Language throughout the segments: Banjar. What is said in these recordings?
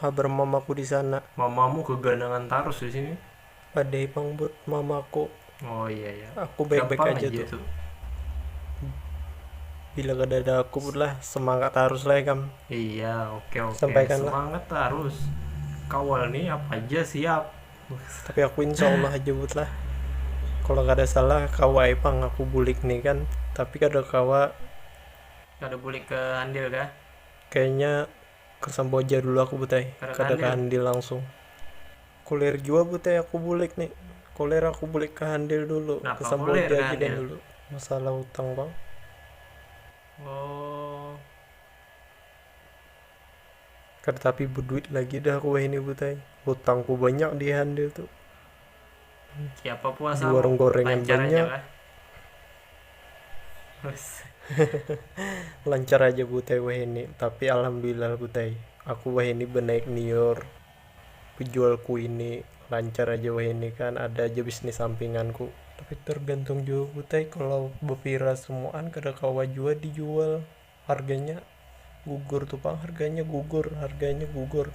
Habar mamaku di sana. Mamamu keganangan tarus di sini. Padai pang buat mamaku. Oh iya iya. Aku baik baik Gampang aja, aja tuh. Bila kadada aku pun lah semangat tarus lah ikam. Iya oke oke. Sampaikan lah. Semangat tarus. Kawal nih apa aja siap. Tapi aku insya Allah aja buat lah. Kalau kada salah kawa ai pang aku bulik nih kan. Tapi kada kawa. Kada bulik ke Handil kah? Kayaknya. Kasampoh ja dulu aku butai kada ka handil langsung kulir jua butai aku bulik ni kulir aku bulik ka handil dulu kasampoh ja lagi dan dulu masalah utang pang kada tapi beduit lagi dah aku wahini butai hutangku banyak di handil tu. Siapa puasa? Di warung gorengan banyak. Lancar aja butai wahini, tapi alhamdulillah butai, aku wahini banaik niur, bejual kuini, lancar aja wahini kan ada aja bisnis sampinganku. Tapi tergantung jua butai, kalau bepira semuaan kada kawa jua dijual, harganya gugur tu pang harganya gugur harganya gugur.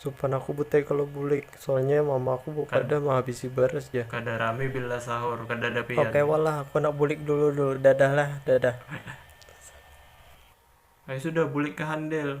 Supan aku bu te kalo bulik, soalnya mama aku bu kada mahabisi baras ja. Kada rami bila sahur, kadada pian. Oke wal lah, aku handak bulik dulu dulu, dadah lah, dadah. Ayu sudah bulik ka handel.